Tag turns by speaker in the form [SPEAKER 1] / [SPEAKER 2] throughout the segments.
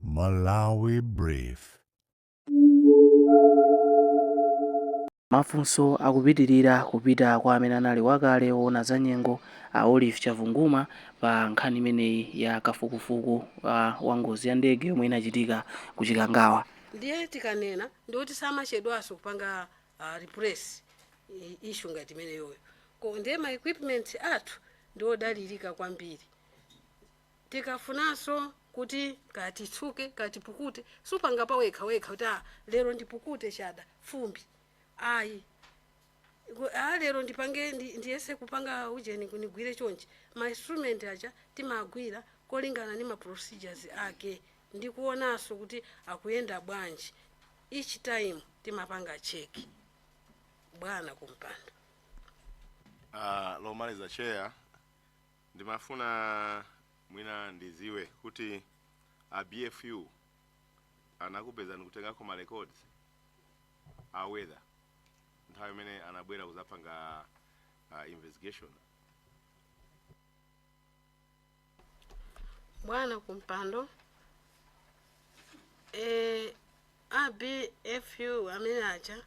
[SPEAKER 1] Malawi
[SPEAKER 2] Brief. Mafunso akupitilira kupita kwa amene anali wakale owona za nyengo a Olive Chavunguma pa nkhani imeneyi ya kafukufuku wa ngozi ya ndege yomwe inachitika ku Chikangawa. ndiye
[SPEAKER 3] tikanena ndikuti samachedwaso kupanga uh, replace issue ngati imeneyoyo ko ndiye ma equipment athu ndiodalirika kwambiri Tikafunanso kuti kaya titsuke, kaya tipukute, supanga pawekhawekha kuti ah, lero ndipukute chabe, fumbi. Ayi. Ku- Ah, lero ndipange ndi- ndiyese kupanga ujeni ku- ndigwire chonchi. Ma instrument aja timagwira kolingana ndi ma procedures ake ndi kuonanso kuti akuyenda bwanji. Each time timapanga check. Bwana kumpando. Ah,
[SPEAKER 4] lomaliza chair Ndimafuna mwina ndiziwe kuti a BFU anakupezani nkutengako ma records a weather nthawi imene anabwera kuzapanga uh,
[SPEAKER 3] investigation bwana kumpando e, A BFU amene aja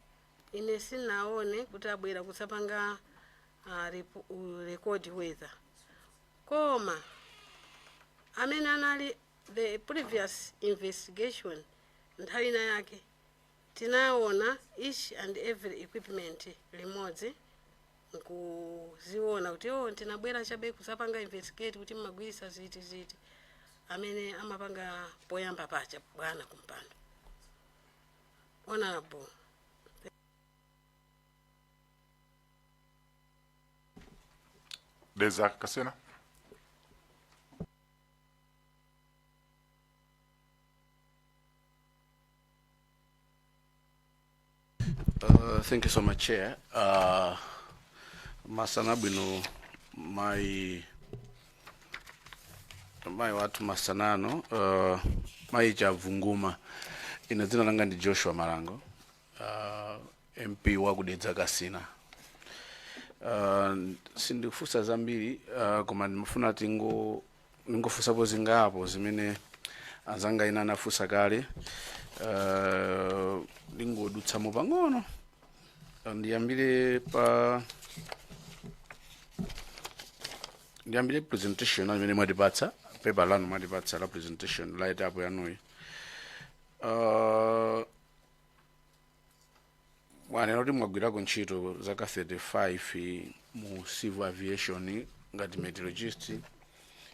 [SPEAKER 3] ine sindinaone kuti abwera kudzapanga ah, repo- u- record weather koma amene anali the previous investigation nthawi ina yake tinaona each and every equipment limodzi nkuziona kuti oh, tinangobwera chabe kuzapanga investigate kuti mmagwiritsa ziti ziti amene amapanga poyamba paja bwana kumpando honorable
[SPEAKER 5] Dedza Kasina.
[SPEAKER 6] Uh, thank you so much, Chair. Uh, masana bwino mai mai wathu masana ano uh, mai chavunguma ine dzina langa ndi joshua malango uh, mp wakudedza kasina uh, sindikufunsa zambiri uh, koma ndimafuna tingo ndingofunsapo zingapo zimene anzanga ena anafunsa kale uh, ndingodutsamo pang'ono Uh, ndiyambire pa ndiyambire presentation yanu imene mwatipatsa pepa lanu mwatipatsa la presentation write up yanuyi uh, mwanena kuti mwagwirako ntchito zaka 35 mu civil aviation ngati meteorologist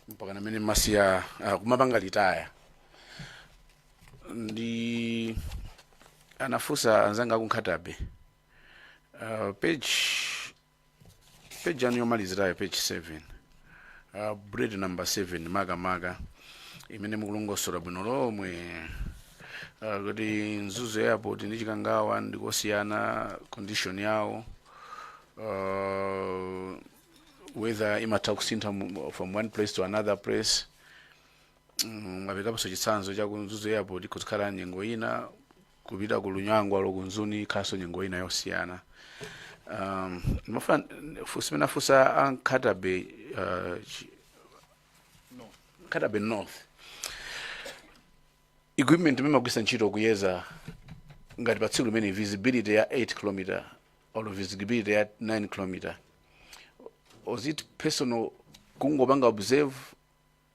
[SPEAKER 6] mpaka pamene mumasiya uh, kumapanga litaya ndiye anafunsa anzanga aku Nkhata Bay uh, page peji yanu yomalizirayo peji 7 uh, bullet number 7 makamaka imene mukulongosola bwino lomwe uh, kuti Mzuzu airport ndi Chikangawa ndikosiyana condition yawo uh, weather imatha kusintha mu- from one place to another place Mm, mwaperekaponso chitsanzo cha ku Mzuzu airport kuzikhala nyengo ina kupita ku Lunyangwa olo ku Lusangazi ikhalanso nyengo ina yosiyana um, mafunso amene afunsa a Nkhata Bay uh, chi- Nkhata Bay North equipment imene mumagwiritsa ntchito kuyeza ngati pa tsiku limene visibility ya 8 kilometer or visibility ya 9 kilometer was it personal kungopanga observe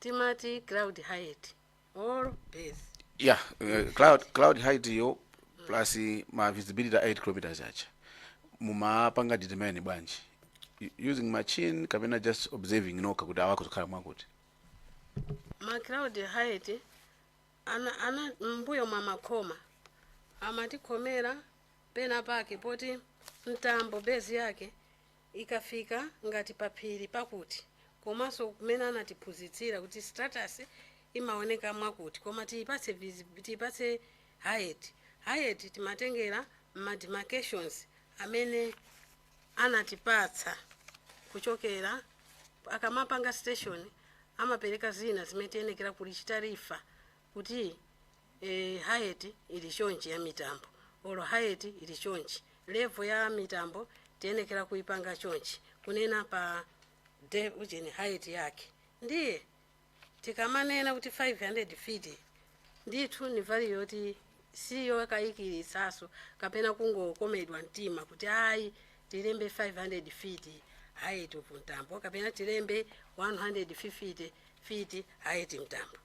[SPEAKER 3] timati cloud height or base yeah
[SPEAKER 6] uh, cloud cloud height yo plus ma visibility a 8 kilometers aja mumapanga determine bwanji U- using machine kapena just observing nokha kuti apa pakukhala
[SPEAKER 3] mwakuti ma cloud height ana ana mbuyo mwa makhoma amatikhomera pena pake poti mtambo base yake ikafika ngati paphiri pakuti komanso mmene anatiphunzitsira kuti stratus imaoneka mwakuti koma tiyipatse visibi- tiyipatse height height timatengera ma demarcations amene anatipatsa kuchokera akamapanga station amapereka zina zimene tiyenekera kuzichita refer kuti e, height ili chonchi ya mitambo olo height ili chonchi level ya mitambo tiyenekera kuipanga chonchi kunena pa ujeni height yake ndiye tikamanena kuti 500 feet ndithu ndi value yoti siyo yokayikitsanso kapena kungokomedwa mtima kuti ayi tilembe 500 feet height of mtambo kapena tilembe 150 feet height mtambo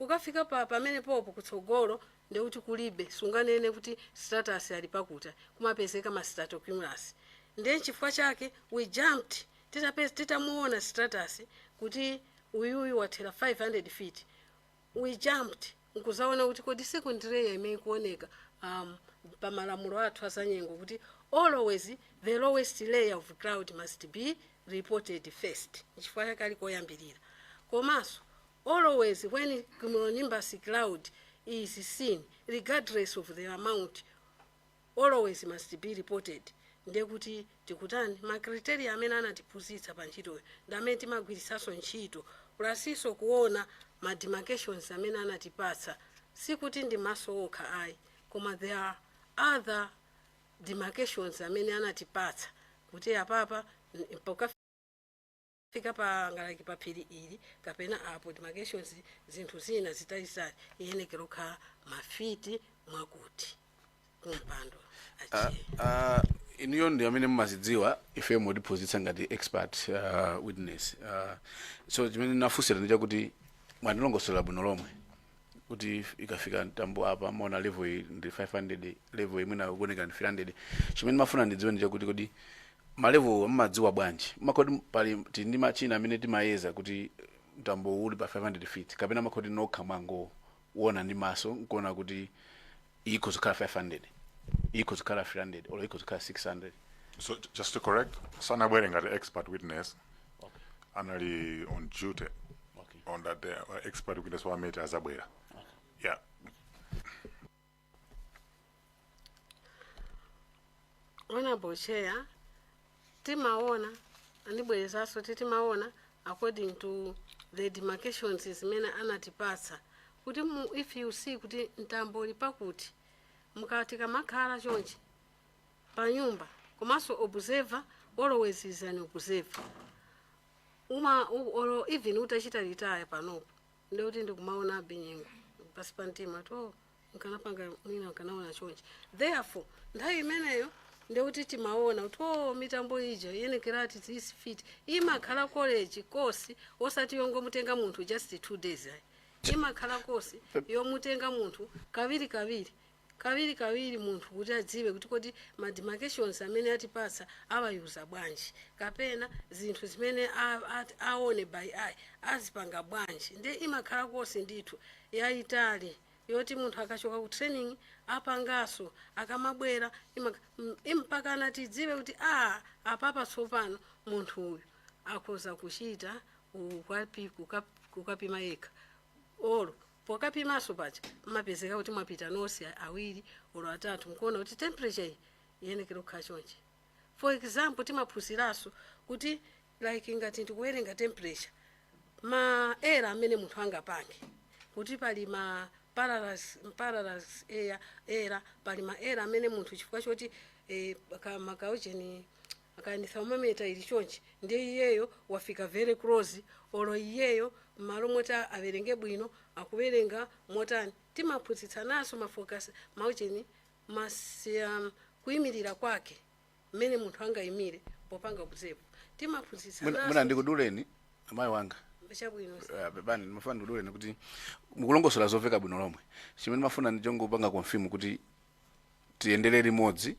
[SPEAKER 3] Ukafika pa pamenepopo kutsogolo ndiye kuti kulibe, sunganene kuti stratus ali pakuti, kumapezeka ma stratocumulus. Ndiye nchifukwa chake we jumped titapez, titamuona stratus kuti uyuyu wathera 500 feet, we jumped nkuzaona kuti kodi second layer imeneyi ikuoneka um pa malamulo athu azanyengo kuti always the lowest layer of cloud must be reported first, nchifukwa chake ali koyambilira. Komanso. always when cumulonimbus cloud is seen regardless of the amount always must be reported ndiye kuti tikutani ma criteria amene anatiphunzitsa pa ntchitoyo ndi amene timagwiritsanso ntchito pulasinso kuona ma demarcations amene anatipatsa sikuti ndi maso okha ayi koma there are other demarcations amene anatipatsa kuti apapa n- pokaf- fika pa ngalaki pa phiri ili kapena apo demarcations zinthu zina zitalizitali iyenekera kukhala mafiti mwakuti kumpando Ah, achiye
[SPEAKER 6] ah, inuyo ndi amene mumazidziwa ife mukutiphunzitsa ngati expert ah, witness Ah, so chimene nafunsira ndi chakuti mwandilongosolera bwino lomwe kuti ikafika mtambo apa mumaona level iyi ndi 500 level iyi mwina kuoneka ndi 300 chimene ndimafuna ndidziwe ndi chakuti kodi malevel mumadziwa bwanji kukhala kuti pali tili ndi machina amene timayeza kuti mtambo uli pa 500 feet kapena imakhala kuti nokha mwangouona ndi maso nkuona kuti ikhoza kukhala 500 ikhoza kukhala 300 olo ikhoza kukhala 600 So j- just
[SPEAKER 5] to correct, sanabwere ngati expert witness okay. anali on duty Okay. on that day. Or expert witness wa met azabwera.
[SPEAKER 3] Yeah. Honorable Chair, timaona andibwerezanso kuti timaona according to the demarcations zimene anatipatsa kuti mu if you see kuti mtambo uli pakuti mukatika makhala chonchi pa nyumba komanso observer always is an observer uma u- olo even utachita retire panopo ndikuti ndikumaonabe nyengo pasi pa mtima to nkanapanga mwina nkanaona chonchi therefore nthawi imeneyo ndekuti timaona kuti o mitambo ija iyenekera at this feet imakhala college kosi osati yongomutenga munthu just two days ayi imakhala kosi yomutenga munthu kawirikawiri kawirikawiri munthu kuti adziwe kuti kodi ma demarcations amene atipatsa awayuza bwanji kapena zinthu zimene a- a- aone by eye azipanga bwanji nde imakhala kosi ndithu yaitali yoti munthu akachoka ku training apanganso akamabwera imak mm, mpakana tidziwe kuti a apapa tsopano munthu uyu akhoza kuchita ukapi- kuka- kukapima yekha olo pokapimanso paja mmapezeka kuti mwapita nonse awiri olo atatu nkuona kuti temperature iyi iyenekera kukhala chonchi for example timaphunziranso kuti like ngati ndikuwerenga temperature ma error amene munthu angapange kuti pali ma parallax parallax error error pali ma error amene munthu chifukwa choti eh, ka- makaujeni aka ni thermometer ili chonchi ndiye iyeyo wafika very close olo iyeyo mmalo moti a- awerenge bwino akuwerenga motani timaphunzitsananso mafocus maujeni masi um, kuyimirira kwake mmene munthu angayimire popanga observe timaphunzitsa Mwina- mwina naso
[SPEAKER 6] ndikuduleni amayi wanga
[SPEAKER 3] chabwino Eh, bani ndimafuna
[SPEAKER 6] ndikuduleni kuti mukulongosola zoveka bwino lomwe chimene ndimafuna ndi chongopanga confirm kuti tiyendere limodzi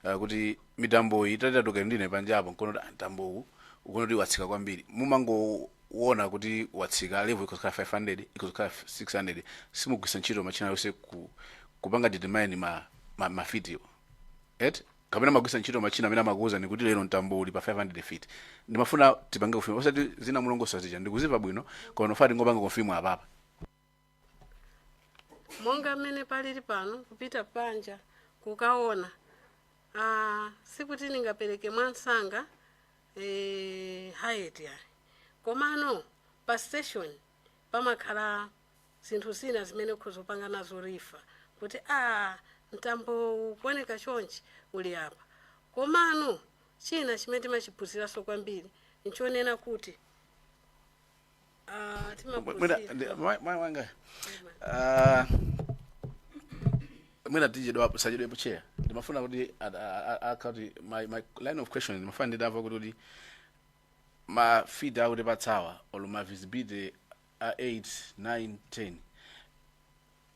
[SPEAKER 6] eh, kuti mitamboyi tatitatuluka ndine panjapo nkuona kuti mtambowu ukuona kuti watsika kwambiri mumangoona kuti watsika level ikuzikhala 500 ikuzikhala 600 simugwisa ntchito machine aliyonse ku, kupanga determine ma, ma, mafitiwo height kapena magwisa ntchito machina amene amakuuzani kuti lero mtambo uli pa 500 feet ndimafuna tipange confirm osati zina mwalongosola zija ndikuzimva bwino koma ndimafuna tingopanga confirm apapa
[SPEAKER 3] monga mmene palili pano kupita panja kukaona ah, sikuti ndingapereke mwamsanga eh, height ayi komano pa station pamakhala zinthu zina zimene ukhoza kupanga nazo refer kuti aah mtambowu ukuoneka chonchi uli apa. Komano china chimene timachiphunziranso kwambiri nchonena kuti ah, Mwe- mwina timaphunzira ndi- mwa- mwa-
[SPEAKER 6] mwanga ah, mwina tichedwapo sachedwepo chair ndimafuna kuti a- a- a- akati my, my line of question ndimafuna ndidziwe kuti kuti ma feet akutipatsawa or ma visibility a 8, 9, 10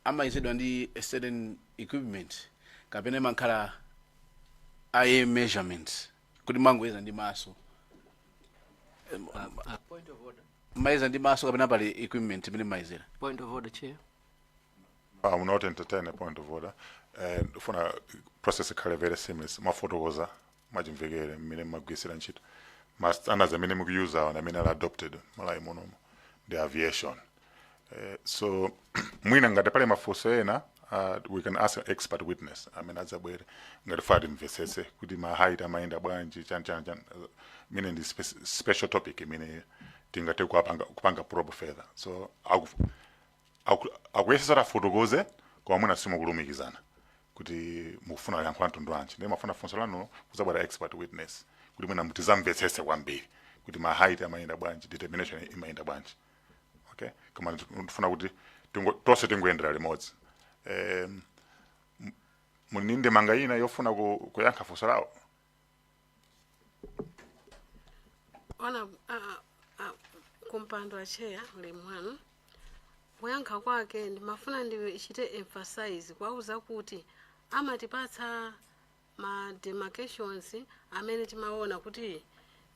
[SPEAKER 6] amayezedwa ndi a certain equipment kapena imakhala eye measurement kuti mangoyeza ndi maso Em, ah, Point
[SPEAKER 7] of order. mayeza ndi maso
[SPEAKER 6] kapena pali equipment imene mayezera Point of
[SPEAKER 7] order, Chair. I
[SPEAKER 5] will not entertain a point of order. And for a process ikhale very seamless, mwafotokoza mwachimvekere mmene mmagwiritsira ntchito ma standards amene mukuyuzawa ndi amene ali adopted Malawi munomo ndi aviation eh, so mwina ngati pali mafunso ena uh, we can ask an expert witness amene adzabwere ngati tifuna timvetsetse kuti ma height amayenda bwanji chani chani chani uh, imene ndi spe special topic imene tingathe kupanga, kupanga probe further so aku, Aku- akuyesesa kuti afotokoze koma mwina simukulumikizana kuti mukufuna yankho la mtundu wanji ndiye mafuna funso lanulo kuzabwera expert witness kuti mwina muzamvetsese kwambiri kuti ma height amayenda bwanji determination imayenda bwanji okay koma ndifuna kuti tingo- tonse tingoyendera limodzi um, muli ndi ndemanga ina yofuna ku- kuyankha funso lawo
[SPEAKER 3] bwana uh, uh, kumpando acheya ulemu wanu kuyankha kwake ndimafuna ndichite emphasize kwauza kuti amatipatsa ma demarcations amene timaona kuti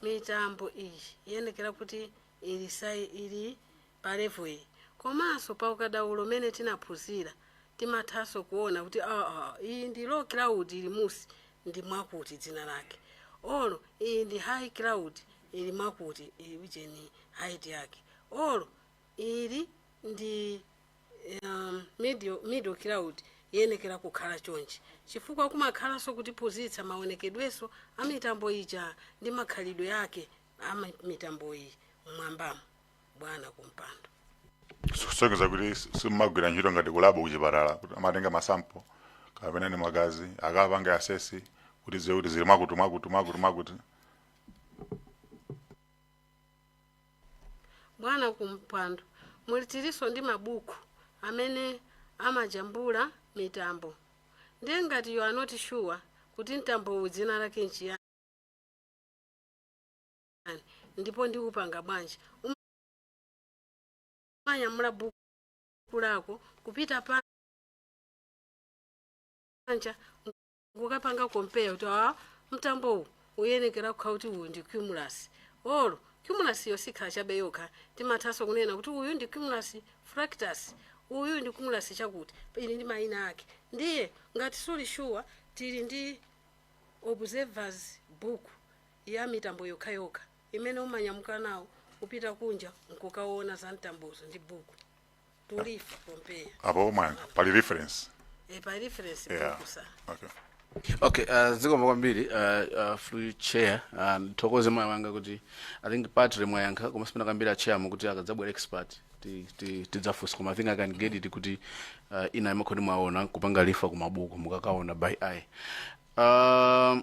[SPEAKER 3] mitambo iyi iyenekera kuti ilisai ili pa level iyi komanso pa ukadaulo umene tinaphunzira timathanso kuona kuti aa iyi ndi low cloud ili mmunsi ndi mwakuti dzina lake olo iyi ndi high cloud ili mwakuti ili ujeni height yake olo ili ndi um, middle, middle cloud iyenekera kukhala chonchi chifukwa kumakhalanso kutiphunzitsa maonekedwenso a mitambo ija ndi makhalidwe ake a mi- mitambo iyi mmwambamo bwana kumpando
[SPEAKER 5] kusonyeza kuti si- simumagwira ntchito ngati kulabo kuchipatala kuti amatenga masampo kapena ndi magazi akapange assess kuti adziwe kuti zili mwakuti mwakuti mwakuti mwakuti
[SPEAKER 3] bwana kumpando muli tilinso ndi mabuku amene amajambula mitambo ndiye ngati you are not sure kuti mtambo uwu dzina lake nchiyani ndipo ndiupanga bwanji umanyamula buku lako kupita panja kukapanga compare kuti a mtambo uwu uyenekera kukhala kuti uyu ndi cumulus olo cumulus iyo sikhala chabe yokha timathanso kunena kuti uyu ndi cumulus fractus uyu ndi cumulus chakuti ili ndi mayina ake ndiye ngati suli sure tili ndi observers book ya mitambo yokhayokha imene umanyamuka nawo kupita kunja nkukawona za mtambozo ndi buku to refer compare apo omanga pali
[SPEAKER 5] reference e pa
[SPEAKER 3] reference yeah book sir okay
[SPEAKER 6] okay uh, zikomo kwambiri uh, uh, through chair uh, ndithokoze mwayi wanga kuti i think partly mwayankha koma sipena kambiri a chair mukuti akadzabwera expert ti- ti- tidzafunsa koma i think i can get it kuti uh, ina imakhoti mwaona kupanga refer kumabuku mukakaona by eye um,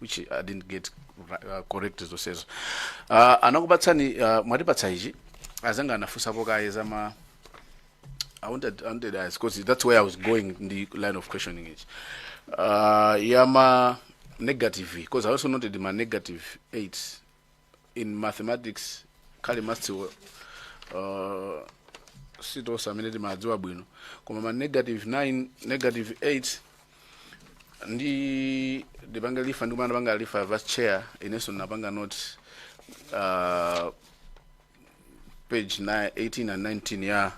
[SPEAKER 6] which I didn't get ri- uh, correct zonsezo uh, anakupatsani uh, mwatipatsa ichi azanga anafunsapo kaye zama I wanted, I wanted as because that's where I was going in the line of questioning it. Uh, yama negative because I also noted my negative eight in mathematics kale mathsiwo uh, sitonse amene timadziwa bwino koma ma negative 9 negative 8 ndi ndipange refer ndikufuna ndipange refer vice chair inenso ndinapanga note uh, page 18 and 19 ya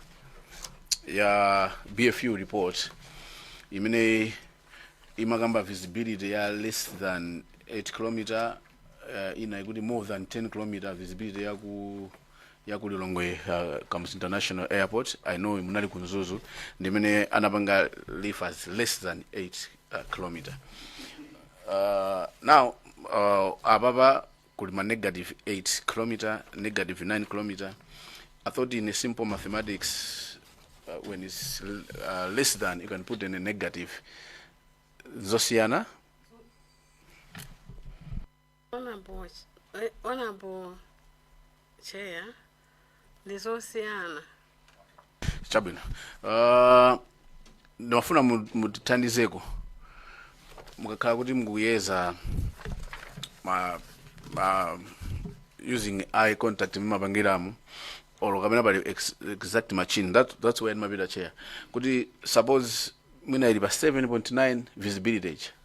[SPEAKER 6] ya bfu report imene imakamba visibility ya less than 8 kilometer uh, ina ikuti more than 10 km visibility ya ku ya ku lilongwe uh, comes international airport i know munali ku mzuzu ndimene anapanga leave as less than 8 uh, kilometer uh, now uh, apapa kuli ma negative 8 kilometer negative 9 kilometer i thought in a simple mathematics uh, when it's uh, less than you can put in a negative zosiyana
[SPEAKER 3] Honorable, eh, honorable chair ndi zosiyana
[SPEAKER 6] chabwino uh, ndimafuna mu- mutithandizeko mukakhala kuti mukuyeza ma, ma using eye contact mumapangira mo or kapena pali ex, exact machine that, that's why ndimati chair kuti suppose mwina ili pa 7.9 visibility ija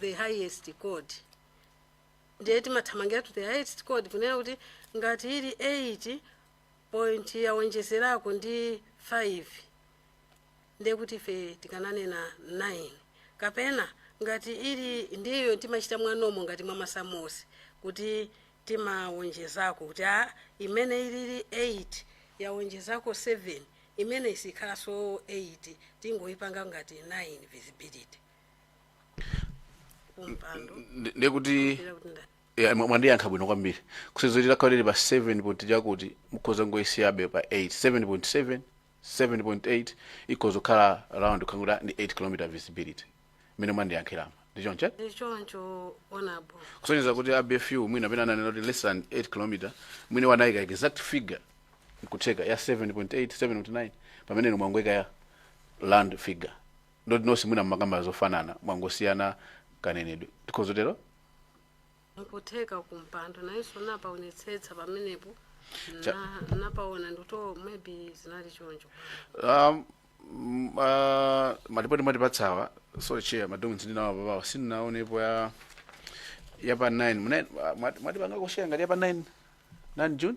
[SPEAKER 3] the highest code ndiye timathamangira to the highest code kunena kuti ngati ili 8 point yawonjezerako ndi 5 ndiye kuti ife tikananena 9 kapena ngati ili ndiyo timachita mwanomo ngati mwa masamu kuti timawonjezako kuti a imene ili 8 yawonjezako 7 imene isikhalanso 8 tingoyipanga ngati 9 visibility mpando Ndi- ndiye
[SPEAKER 6] kuti ndira kuti nda ya, mwa- mwandiyankha bwino kwambiri kusonyeza ikakhala pa 7 point chakuti mukhoza ngoyisiyabe pa 8 7.7 7.8 ikhoza kukhala round kungoti ndi 8 kilometer visibility mmene mwandiyankhiramo ndi choncho ndi choncho
[SPEAKER 3] honorable kusonyeza kuti a
[SPEAKER 6] BFU mwina amene ananena kuti less than 8 kilometer mwina anayika exact figure nkutheka ya 7.8 7.9 pamene inu mwangoyika ya round figure ndiye kuti nonse mwina mumakamba zofanana mwangosiyana kanenedwe tikhoza
[SPEAKER 3] tero nkutheka kumpando nayenso napaonetsetsa pamenepo Cha- na- napaona ndito maybe zinali choncho um, mm,
[SPEAKER 6] uh, malipoti mwatipatsawa sorry chair ma docs ndinawo papawa sindinaonepo ya ya pa 9 Muna- mwa- mwati- mwatipanga kushare ngati ya pa 9 9 June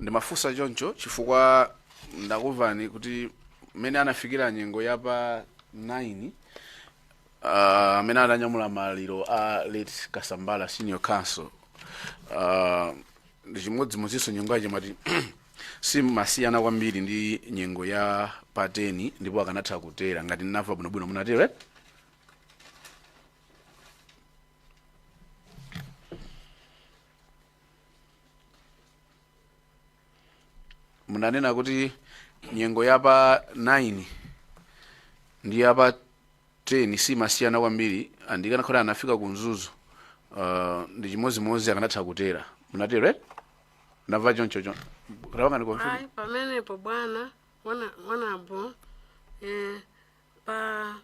[SPEAKER 6] Ndimafunsa choncho chifukwa ndakumvani kuti mmene anafikira nyengo ya pa 9 ah, amene ananyamula maliro a late Kasambala senior counsel ah, ndi chimodzimodzinso nyengo yache mwati simasiyana kwambiri ndi nyengo ya pa 10 ndipo akanatha kutera ngati ndinamva bwinobwino munatero eh? munanena kuti nyengo ya pa 9 ndi ya pa 10 simasiyana kwambiri ndikanakhala anafika ku Mzuzu uh, ndi chimodzimodzi akanatha kutera munatero eh? ndamva choncho chonde tapangani confirm
[SPEAKER 3] ayi pamenepo bwana hono- honorable eh, pa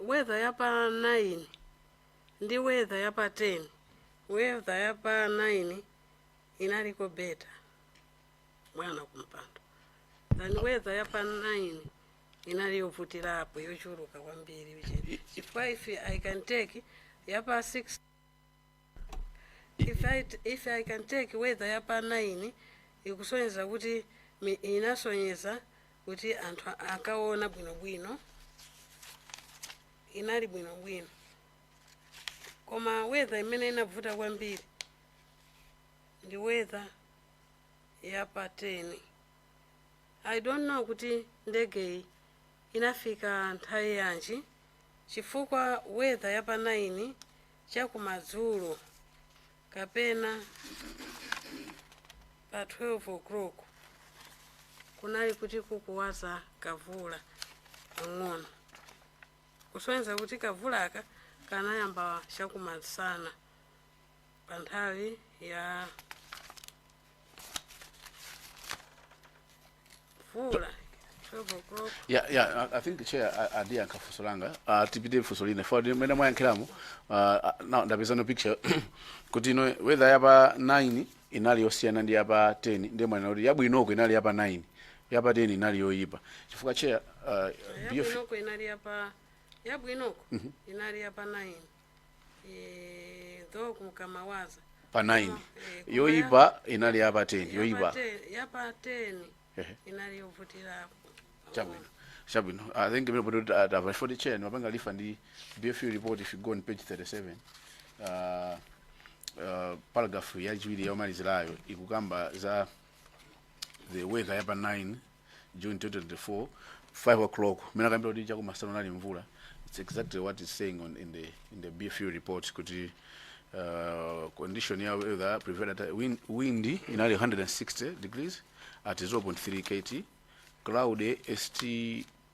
[SPEAKER 3] weather ya pa 9 ndi weather ya pa 10 weather ya pa 9 inaliko better bwana kumpando than weather ya pa 9 inali yovutirapo yochuluka kwambiri uje chifukwa if i can take ya pa 6 if I, t- if I can take weather ya pa 9 ikusonyeza kuti mi- inasonyeza kuti anthu akaona bwinobwino inali bwinobwino koma weather imene inavuta kwambiri ndi weather ya pa 10 i don't know kuti ndegeyi inafika nthawi yanji chifukwa weather ya pa 9 chakumadzulo kapena pa 12 o'clock kunali kuti kukuwaza kamvula pang'ono kusonyeza kuti kamvulaka kanayamba chakumasana pa nthawi ya mvula. 12 o'clock. ya ya I- i
[SPEAKER 6] think chair andiyankha funso langa Ah, tipite funso lina for mmene mwayankhiramo ah, ah, now ndapeza no picture kuti ino weather yapa 9 inali yosiyana ndi yapa 10 ndiye mwanena kuti yabwinoko inali yapa 9 yapa 10 inali yoyipa chifukwa chair ah, BF yabwinoko
[SPEAKER 3] inali yapa yabwinoko inali yapa 9 Eh, though kunkamawaza pa
[SPEAKER 6] 9 yoyipa inali ya pa 10 yoyipa yapa 10
[SPEAKER 3] Ehe. inali yovutirapo chabwino
[SPEAKER 6] chabwino i think imene poti tamva chifoti chair mwapanga refer ndi bfu report if you go on page 37 uh, uh, paragraph yachiwiri yomalizirayo ikukamba za the weather yapa 9 June 2024, 5 o'clock. Mena kambira kuti chako masana nali mvula. It's exactly what is saying on in the in the BFU report kuti uh, condition ya weather prevailed at wind, wind inali 160 degrees at 0.3 kt cloud ST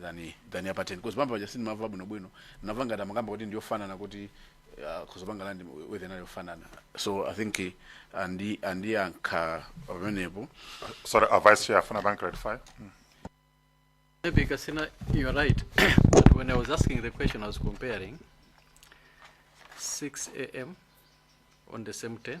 [SPEAKER 6] than than ya pa 10 because mmmbuyo paja sindimamva bwinobwino ndamva ngati amakamba kuti ndiyofanana kuti uh, kudzapanga land weather inali yofanana so i think eh, andi andiyankha pamenepo Sorry, uh,
[SPEAKER 5] Vice Chair, afuna apange clarify.
[SPEAKER 7] Maybe Kasina, you're right. but when I was asking the question, I was comparing 6 a.m. on the same 10th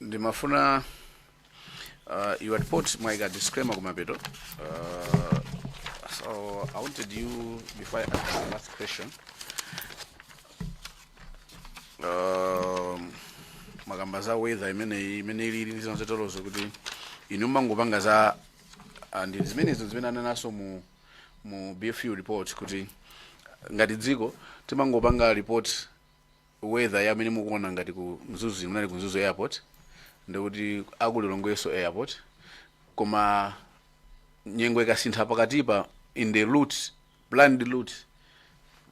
[SPEAKER 6] ndimafuna uh, your report mwaika disclaimer kumapeto uh, so i wanted you before i ask the last question um, mwakamba za weather imeneyi imene ilili ndi zolozeralozo kuti inu mangopanga za and zimenezo zimene ananenanso mu mu bfu report kuti ngati dziko timangopanga report weather imene mukuona ngati ku mzuzu munali ku mzuzu airport ndikuti aku Lilongwenso airport koma nyengo ikasintha pakatipa in the route planned route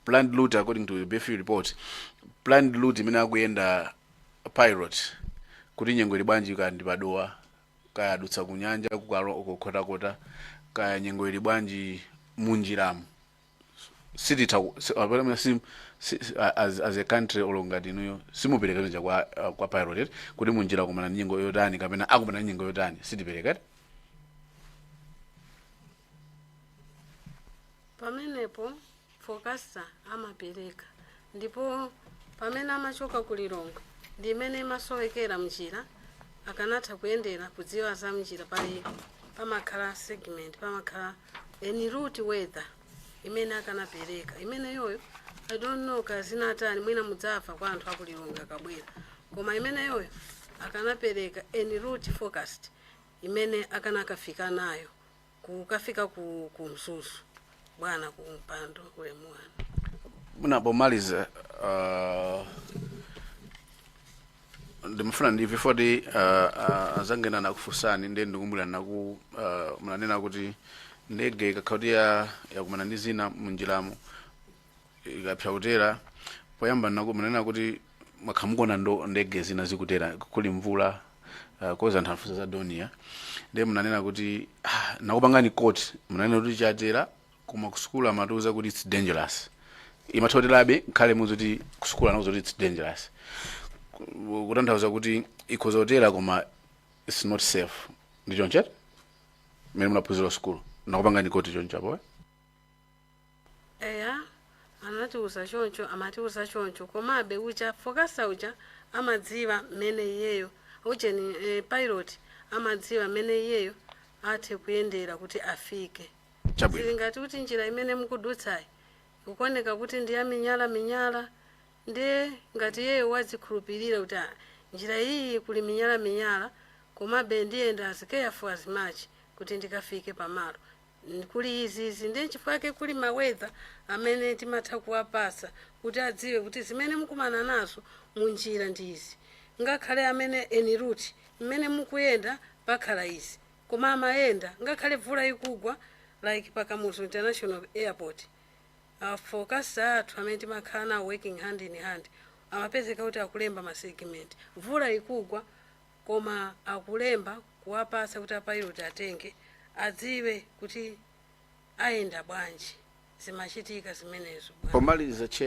[SPEAKER 6] planned route according to the bfu report planned route imene akuyenda pilot kuti nyengo ili bwanji kaya ndi padowa kaya adutsa kunyanja kukalo- ku Nkhotakota kaya nyengo ili bwanji munjiramu sititha ku- si- apana mwe sim- si- si- a- as, as a country olo ngati inuyo simupereka njira kwa, uh, kwa pilot kuti munjira akumana ndi nyengo yotani kapena akumana ndi nyengo yotani sitipereka
[SPEAKER 3] eti? pamenepo forecaster amapereka ndipo pamene amachoka ku Lilongwe ndi imene imasowekera mnjira akanatha kuyendera kudziwa za mnjira pali pamakhala segment pamakhala en route weather imene akanapereka imeneyoyo i don't know kaya zinatani mwina mudzamva kwa anthu aku Lilongwe akabwera koma imeneyoyo akanapereka en route forecast imene akanakafika nayo kukafika ku, ku mzuzu bwana ku mpando ulemu wanu mwina
[SPEAKER 6] pomaliza uh, ndimafuna ndimve poti uh, uh, azanga ena anakufunsani ndiye ndikumbukira bwino uh, munanena kuti ndege ikakhala kuti ya- yakumana ndi zina munjiramo ikakanika kutera poyamba nako munanena kuti mwakhala mukuona ndithu ndege zina zikutera kuli mvula uh, chifukwa anthu afunsa za Dornier ndiye munanena kuti ah, ndinakupangani quote munanena kuti imatera koma kusukulu amatiuza kuti its dangerous imatha kuterabe ngakhale mukuti kusukulu anatiuza kuti its dangerous Ku- kutanthauza kuti ikhoza kutera koma its not safe ndi choncho mmene munaphunzira sukulu ndakupangani quote choncho apo eh?
[SPEAKER 3] eya anatiuza choncho amatiuza choncho komabe uja forecaster uja amadziwa mmene iyeyo ujeni e, pilot amadziwa mmene iyeyo athe kuyendera kuti afike Chabwino. zili ngati kuti njira imene mukudutsayi ikuoneka kuti ndi yamiyala miyala ndiye ngati iyeyo wadzikhulupirira kuti "Ah, njira iyi kuli miyala miyala komabe ndiyenda as careful as much kuti ndikafike pamalo Mm, kuli izi izi ndiye nchifukwa chake kuli ma weather amene timatha kuwapasa kuti adziwe kuti zimene mukumana nazo munjira ndi izi ngakhale amene en route mmene mukuyenda pakhala izi koma amayenda ngakhale mvula ikugwa like pa kamuzu international airport a forecaster athu amene timakhala nawo working hand in hand amapezeka kuti akulemba masegment mvula ikugwa koma akulemba kuwapatsa kuti a pilot atenge adziwe kuti ayenda
[SPEAKER 6] bwanji
[SPEAKER 3] zimachitika zimenezo
[SPEAKER 6] bwana.
[SPEAKER 3] Pomaliza chair,